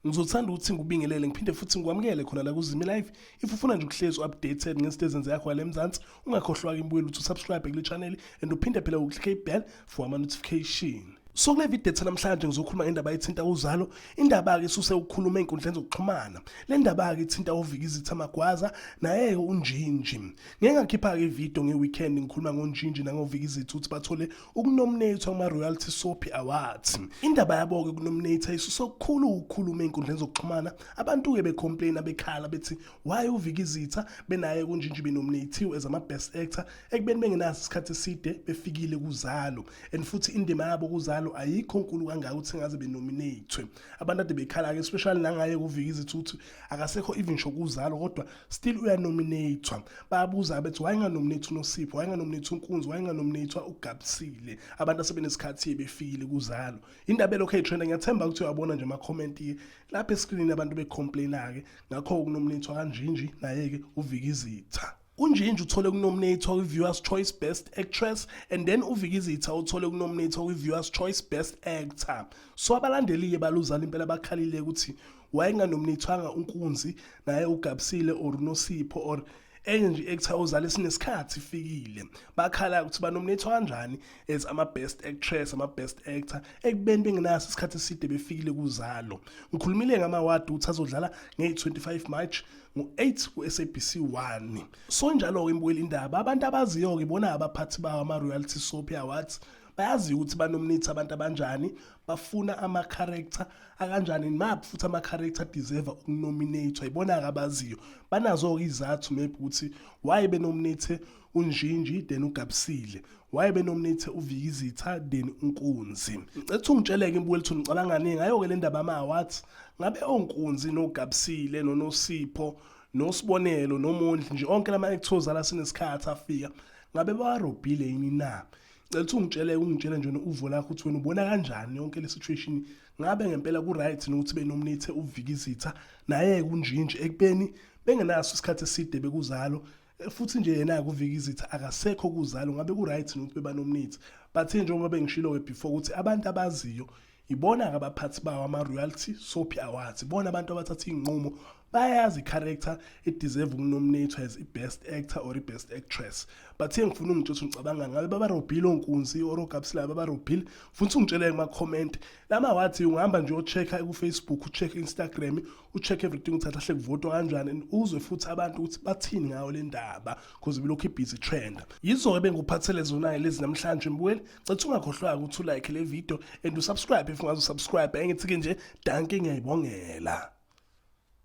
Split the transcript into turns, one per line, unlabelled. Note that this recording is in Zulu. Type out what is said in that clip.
ngizothanda ukuthi ngikubingelele ngiphinde futhi ngikwamukele khona la kuzimi live if ufuna nje ukuhlezi u-updated ngezinto ezenzeka khona le mzansi ungakhohlwa-ke imbuyelo ukuthi usubscribe kule channel and uphinde phela uklike ibhel for ama notification so kule video ethe namhlanje ngizokhuluma ngendaba ethinta uzalo indaba-ke isuse ukukhuluma ey'nkundleni zokuxhumana le ndaba-ke ithinta uvika izitha magwaza naye-ke unjinji ngeke ngakhipha-ke ividiyo nge-weekend ngikhuluma ngonjinji nangovika izitha ukuthi bathole ukunominatha kuma-royalty sopi awards indaba yabo-ke kunominatha isuse okukhulu ukukhuluma ey'nkundleni zokuxhumana abantu-ke becomplaina bekhala bethi why uvika izitha benaye kunjinji benominathiwe as ama-best actor ekubeni bengenaso isikhathi eside befikile kuzalo and futhi indima yabo kuzalo ayikho nkulu kangaka ukuthi ngaze benominate abantu ade bekhala-ke especially nangaye kuvika izithi ukuthi akasekho even sho kuzalo kodwa still uyanominathwa bayabuza bethi wayenganominathi unosipho wayenganominathi unkunzi wayenganominathwa ugabisile abantu asebenesikhathi befikile kuzalo indaba elokhu eyitrenda ngiyathemba ukuthi uyabona nje amakhomenti lapha eskrinini abantu becomplaina-ke ngakho ukunominathwa kanjinji naye-ke uvika izitha UNjinji uthole ukunominatwa kwi-Viewers Choice Best Actress and then uVikizitha uthole ukunominatwa kwi-Viewers Choice Best Actor. So abalandeli-ke baluzana impela bakhalile ukuthi wayenganominatwanga uNkunzi naye uGabsile or uNosipho or enye nje i-actor ozala esinesikhathi ifikile bakhala ukuthi banominatwa kanjani as ama-best actress ama-best actor ekubeni bengenaso isikhathi eside befikile kuzalo ngikhulumile ngama-award ukuthi azodlala nge-25 march ngo-8 ku-sabc 1 so njalo-ke imbukela indaba abantu abaziyo-ke bona abaphathi bawo ama-royalty soap awards bayaziyo ukuthi banomnithi abantu abanjani bafuna ama-character akanjani map futhi ama-character deserve ukunominatwa yibona-ke abaziyo banazo-ke izathu maybe ukuthi why benominate unjinji then ugabisile waye benomnithe uvikizitha then unkunzi ngicetha ungitsheleke mbukwethu ngicabangani ngayo-ke le ndaba amawathi ngabe onkunzi nogabisile nonosipho nosibonelo nomondli nje onke lama actors ala sinesikhathi afika ngabe bawarobhile yini na ngicela ukuthi ungitshele ungitshele nje uvo lakho ukuthi wena ubona kanjani yonke le situation ngabe ngempela ku right nokuthi benomnithe uvikizitha naye kunjinje ekubeni bengenaso isikhathi eside bekuzalo futhi nje yena kuvika izitha akasekho kuzalo ngabe ku right nokuthi bebanomnithi but njengoba bengishilo ke before ukuthi abantu abaziyo ibona ke abaphathi bawo ama royalty sophi awards ibona abantu abathatha inqumo bayazi character it deserve ukunominate as i best actor or i best actress but engifuna ungitsho ngicabanga ngabe baba Robile onkunzi or ogabsila baba Robile futhi ungitshele kuma comment lama wathi ungihamba nje ochecka ku Facebook ucheck Instagram u-check everything ukuthi ahle kuvotwa kanjani and uzwe futhi abantu ukuthi bathini ngayo le ndaba because bilokhu ibhizi trend yizo-ke benguphathele zonayo lezi namhlanje mbukeli cetha ungakhohlwanga ukuthi ulike le video and usubscribe if ungazi usubscribe engithi-ke nje danke ngiyayibongela